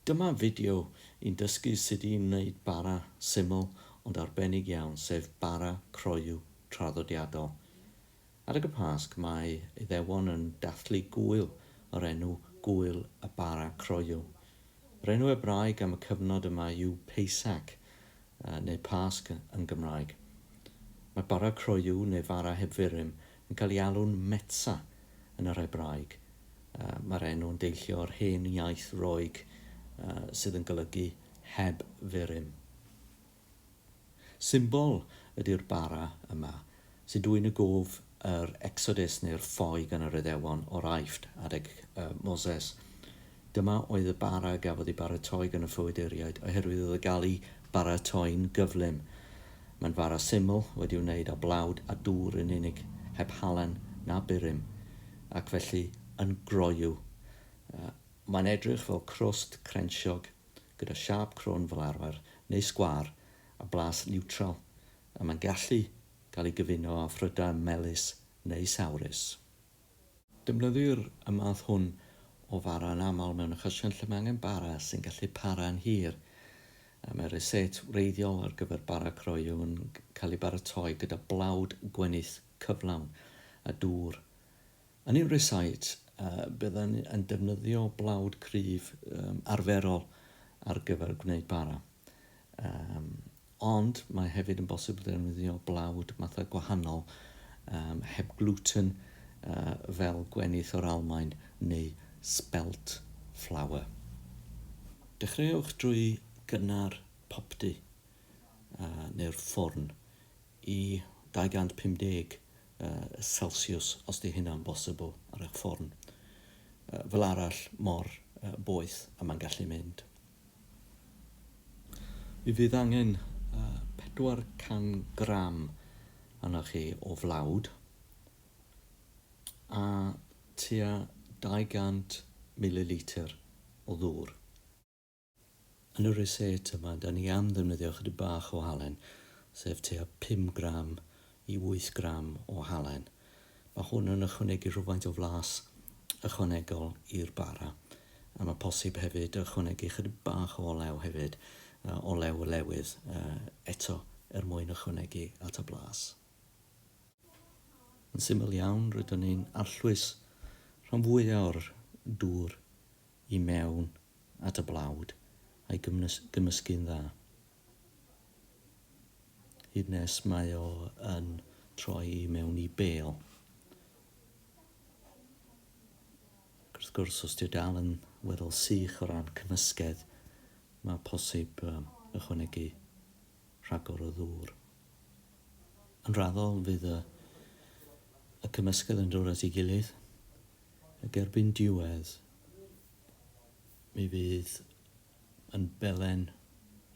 Dyma fideo i'n dysgu sut i wneud bara syml ond arbennig iawn, sef bara croyw traddodiadol. Adeg y Pasg mae Iddewon yn dathlu gŵyl o'r enw Gŵyl y Bara Croyw. Yr enw Ebraeg am y cyfnod yma yw Peisac, neu Pasg yn Gymraeg. Mae bara croyw, neu fara heb furum, yn cael ei alw'n Metsa yn yr Hebraeg. Mae'r enw yn deillio o'r hen iaith Roeg sydd yn golygu heb furym. Symbol ydy'r bara yma, sy'n dwyn y gof yr Exodus neu'r ffoi gan yr Iddewon o'r Aifft adeg Moses. Dyma oedd y bara a gafodd ei baratoi gan y ffoaduriaid oherwydd oedd o gael ei baratoi'n gyflym. Mae'n fara syml, wedi'i wneud â blawd a dŵr yn unig, heb halen na burum, ac felly yn groyw. Mae'n edrych fel crwst crensiog, gyda siâp crwn fel arfer, neu sgwâr, a blas niwtral, a mae'n gallu cael ei gyfuno â phrydau melys neu sawrus. Defnyddir y math hwn o fara yn aml mewn achosion lle mae angen bara sy'n gallu para'n hir. Mae'r reset wreiddiol ar gyfer bara croyw yn cael ei baratoi gyda blawd gwenith cyflawn a dŵr. Yn ein reset, byddwn yn defnyddio blawd cryf arferol ar gyfer gwneud bara. Um, ond mae hefyd yn bosib ddefnyddio blawd mathau gwahanol um, heb gluten uh, fel gwenith o'r Almaen neu spelt flour. Dechreuwch drwy gynnar popty uh, neu'r ffwrn i 250 uh, Celsius os di hynna'n bosibl ar eich ffwrn. Uh, fel arall mor uh, boeth a mae'n gallu mynd. Mi fydd angen 400 gram arnoch chi o flawd a tua 200 mililitr o ddŵr. Yn y reset yma, 'da ni am ddefnyddio chydig bach o halen, sef tua 5 gram i wyth gram o halen. Mae hwn yn ychwanegu rhywfaint o flas ychwanegol i'r bara a mae posib hefyd ychwanegu chydig bach o olew hefyd, olew y lewydd eto er mwyn ychwanegu at y blas. Yn syml iawn rydyn ni'n arllwys rhan fwyaf o'r dŵr i mewn at y blawd a'i gymysgu'n dda. Hyd nes mae o yn troi i mewn i bêl. Wrth gwrs, os ti'n dal yn weddol sych o ran cymysgedd, mae posib ychwanegu rhagor o ddŵr. Yn raddol, fydd y, y cymysgedd yn dod at ei gilydd, ac erbyn diwedd, mi fydd yn belen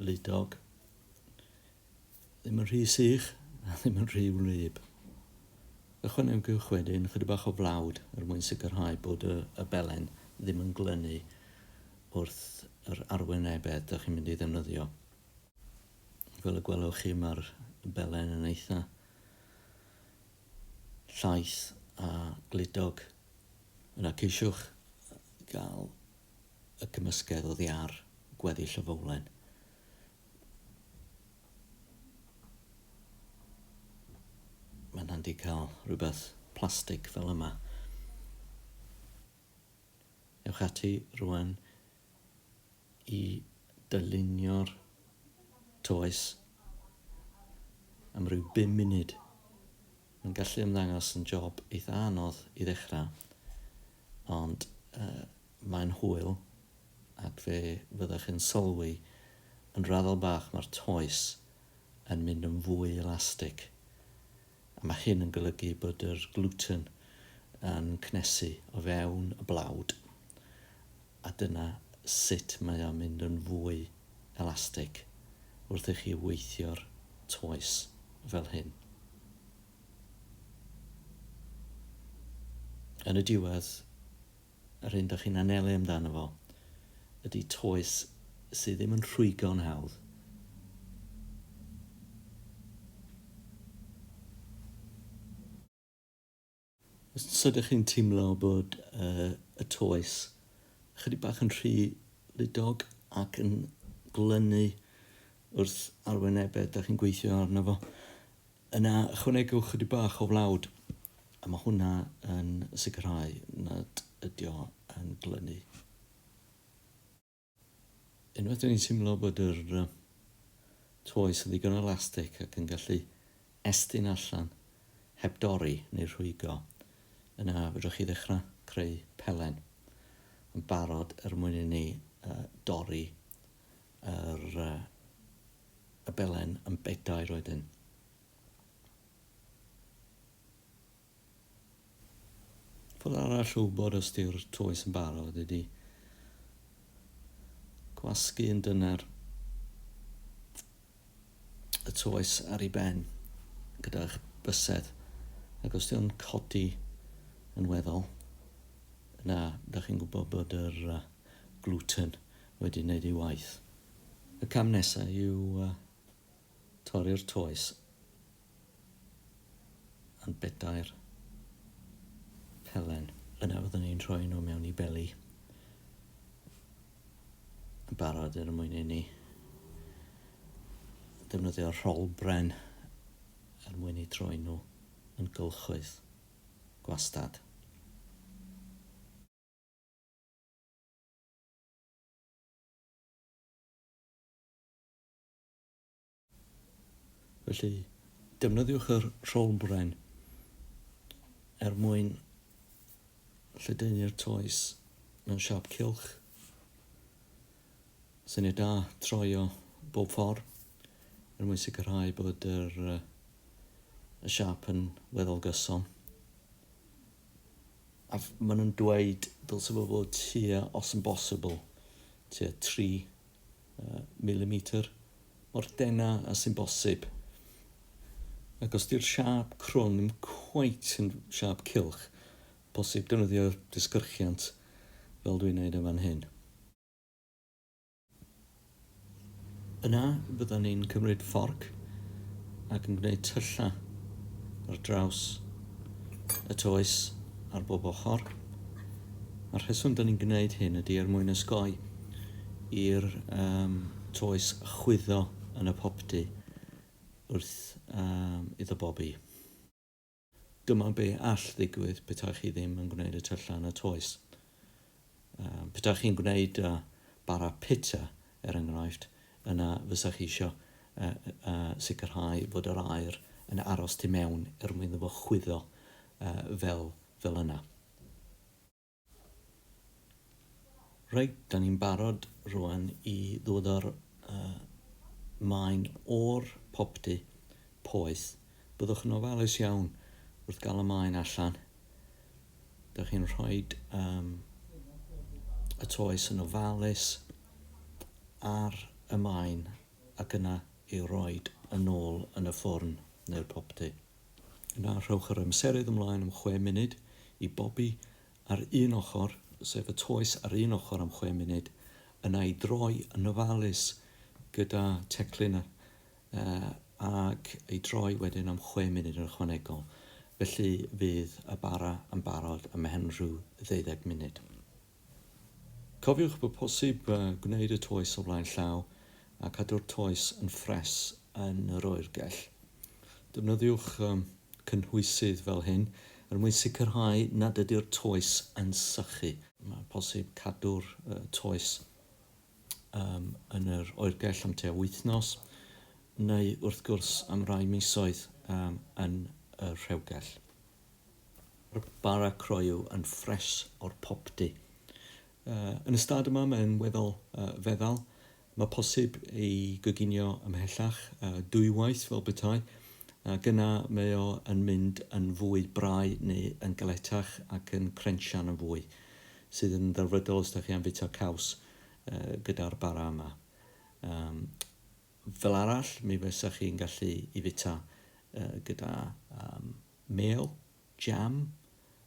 ludog. Ddim yn rhy sych a ddim yn rhy wlyb. Ychwanegwch wedyn chydig bach o flawd er mwyn sicrhau bod y, y belen ddim yn glynu wrth yr arwynebedd da chi'n mynd i ddefnyddio. Fel y gwelwch chi mae'r belen yn eitha llaeth a gludog. Yna ceisiwch gael y cymysgedd oddi ar gweddill y fowlen. Mae'n handi cael rhywbeth plastig fel yma. Ewch ati rwan i dylunio'r toes am ryw 5 munud. Mae'n gallu ymddangos yn job eitha anodd i ddechrau, ond uh, Mae'n hwyl, ac fe fyddech yn sylwi yn raddol bach mae'r toes yn mynd yn fwy elastig, a mae hyn yn golygu bod yr gluten yn cnesu o fewn y blawd, a dyna sut mae o'n mynd yn fwy elastig wrth i chi weithio'r toes fel hyn. Yn y diwedd, Yr hyn dych chi'n anelu amdano fo ydy toes sydd ddim yn rhwygo'n hawdd. Os ydych chi'n teimlo bod uh, y toes ychydig bach yn rhy ludog ac yn glynu wrth arwynebedd da chi'n gweithio arno fo, Yna ychwanegwch chydig bach o flawd a mae hwnna yn sicrhau nad ydy o yn glynu. Unwaith dyn ni'n teimlo bod yr toes yn ddigon elastig ac yn gallu estyn allan heb dorri neu rhwygo, yna fedrwch chi ddechrau creu pelen yn barod er mwyn i ni dorri yr y belen yn bedair wedyn. Ffordd arall o wybod os di'r toes yn barod ydy gwasgu yn dyner y toes ar ei ben gyda'ch bysedd ac os di'n codi yn weddol yna da chi'n gwybod bod yr gluten wedi wneud ei waith. Y cam nesaf yw torri'r toes yn bedair pelen. Yna fyddwn ni'n rhoi nhw mewn i beli yn barod er mwyn i ni defnyddio rholbren er mwyn i troi nhw yn gylchoedd gwastad. Felly, defnyddiwch yr rholbren er mwyn lledaenu'r toes mewn siap cylch. Syniad da, troio bob ffordd er mwyn sicrhau bod yr, y siap yn weddol gyson. A maen nhw'n dweud dylse fo fod tua, os yn bosibl, tua 3 uh, milimetr, mor dena a sy'n bosib. Ac os di'r siap crwn ddim cweit yn siap cilch, posib defnyddio disgyrchiant fel dwi'n neud yn fan hyn. Yna fyddan ni'n cymryd fforc ac yn gwneud tyllau ar draws y toes ar bob ochr. A'r rheswm da ni'n gwneud hyn ydy er mwyn ysgoi i'r um, toes chwyddo yn y popty wrth um, iddo bobi. Dyma be all ddigwydd petai chi ddim yn gwneud y tyllau yn y toes. Petai chi'n gwneud bara pitsa, er enghraifft, yna fysa chi eisiau sicrhau fod yr aer yn aros tu mewn er mwyn iddo fo chwyddo fel yna. Reit, da ni'n barod rwan i ddod ar uh, maen o'r popty poeth. Byddwch yn ofalus iawn wrth gael y maen allan. Da chi'n rhoi um, y toes yn ofalus ar y maen ac yna ei roed yn ôl yn y ffwrn neu'r popty. Yna rhowch yr amserydd ymlaen am chwe munud i bobi ar un ochr, sef y toes ar un ochr am chwe munud, yna i droi yn ofalus gyda teclyn ac i droi wedyn am chwe munud yn ychwanegol. Felly fydd y bara yn barod ymhen rhyw ddeuddeg munud. Cofiwch bod posib gwneud y toes o flaen llaw a cadw'r toes yn ffres yn yr oergell. Defnyddiwch cynhwysydd fel hyn er mwyn sicrhau nad ydy'r toes yn sychu. Mae'n posib cadw'r toes yn yr oergell am tua wythnos neu wrth gwrs am rai misoedd yn y rhewgell. Mae'r bara croyw yn ffres o'r popty. Yn y stad yma mae'n weddol feddal. Mae posib ei goginio ymhellach, dwywaith fel petai, ac yna mae o yn mynd yn fwy brau neu yn galetach ac yn crensian yn fwy, sydd yn ddelfrydol os da chi am fwyta caws gyda'r bara yma. Fel arall, mi fysa chi'n gallu i fwyta gyda mêl, jam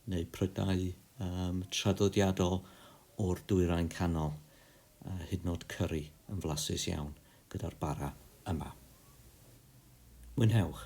neu prydau traddodiadol o'r Dwyrain Canol, a hyd yn oed cyrri yn flasus iawn gyda'r bara yma. Mwynhewch!